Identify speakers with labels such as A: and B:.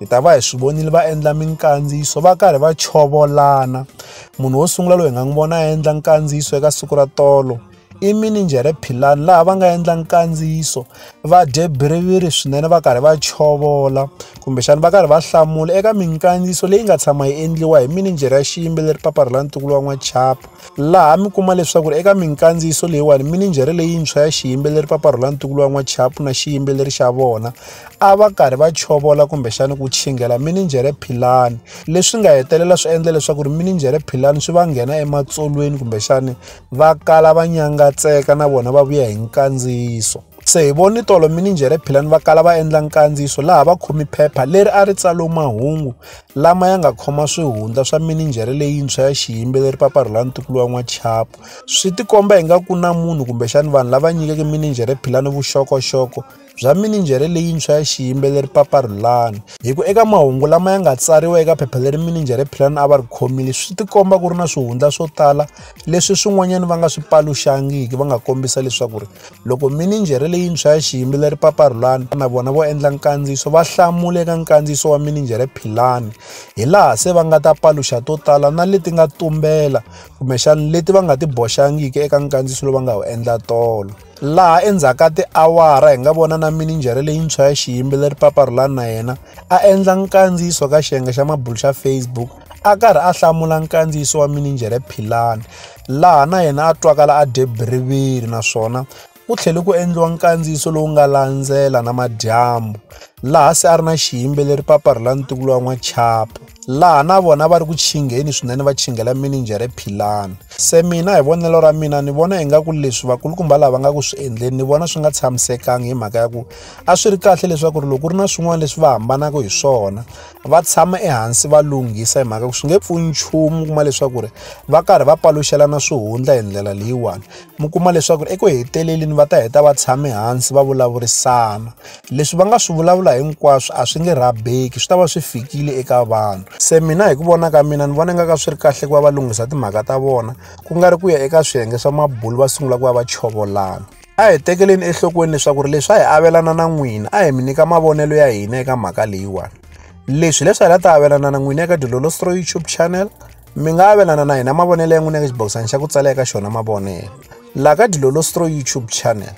A: hi ta va hi swi vonile va endla minkandziyiso va karhi va chovolana munhu wo sungula loyi hi nga n'wi vona a endla nkandziyiso eka siku ra tolo i mininjhere philani laha va nga endla nkandziyiso va dye biriviri swinene va karhi va chovola kumbexana va karhi va hlamula eka minkandziyiso leyi nga tshama yi endliwa hi mininjhere ya xiyimbeleri papa ri la ntukulu wa n'wachapa laha mi kuma leswaku ri eka minkandziyiso leyiwani mininjhere leyintshwa ya xiyimbeleri papa ri la ntukulu wa n'wachapa na xiyimbeleri xa vona a va karhi va chovola kumbexani ku chingela mininjhere philani leswi nga hetelela swi endla leswaku ri mininjhere philani swi va nghena ematsolweni kumbexani va kala va nyangatseka na vona va vuya hi nkandziyiso se hi voni tolo mininjhere philani va kala va endla nkandziyiso laha va khomi phepha leri a ri tsalo mahungu lama ya nga khoma swihundla swa mininjhere leyintshwa ya xiyimbeleri paparhula ntukulu wa n'wachapo swi tikomba hi nga ku na munhu kumbexani vanhu lava nyikeke mininjhere philani vuxokoxoko bya mininjhere leyintshwa ya xiyimbeleri Papa Rhulani hi ku eka mahungu lama ya nga tsariwa eka phepha leri mininjhere Philani a va ri khomile swi tikomba ku ri na swihundla swo tala leswi swin'wanyana va nga swi paluxangiki va nga kombisa leswaku ri loko mininjhere leyintshwa ya xiyimbeleri Papa Rhulani na vona vo endla nkandziyiso va hlamule eka nkandziyiso wa mininjhere Philani hi laha se va nga ta paluxa to tala na leti nga tumbela kumbexana leti va nga ti boxangiki eka nkandziyiso lowu va nga wu endla tolo laha endzhaku ka tiawara hi nga vona na mininjhere leyintshwa ya xiyimbeleri paparhulani na yena a endla nkandziyiso ka xiyenge xa mabulu xa facebook a karhi a hlamula nkandziyiso wa mininjhere philani laha na yena a twakala a dye biriviri naswona ku tlhele ku endliwa nkandziyiso lowu nga landzela na madyambu laha se a ri na xiyimbeleri paparhulani tikulo wa n'wachapo laha na vona va ri ku chingheni swinene va chinghela mininjhere philani se mina hi vonelo ra mina ni vona ingaku leswi vakulukumba lava nga ku swi endleni ni vona swi nga tshamisekangi hi mhaka ya ku a swi ri kahle leswaku ri loko ri na swin'wana leswi va hambanaka hi swona va tshama ehansi va lunghisa hi mhaka ku swi nge pfuni nchumu kuma leswaku ri va karhi va paluxelana swihundla hi ndlela leyiwani mi kuma leswaku ri eku heteleleni va ta heta va tshame hansi va vulavurisana leswi va nga swi vulavula hinkwaswo a swi nge rabeki swi ta va swi fikile eka vanhu se mina hi ku vona ka mina ni vona nga ka swi ri kahle ku va va lunghisa timhaka ta vona ku nga ri ku ya eka swiyenge swa mabulu va sungula ku va va chovolana a hi tekeleni enhlokweni leswaku ri leswi a hi avelana na n'wina a hi mi nyika mavonelo ya hina eka mhaka leyiwani leswi leswi hi la ta avelana na n'wina eka dilolostro youtube channel mi nga avelana na hina mavonelo ya n'wina eka xibokisana xa ku tsala eka xona mavonelo laha ka dilolostro youtube channel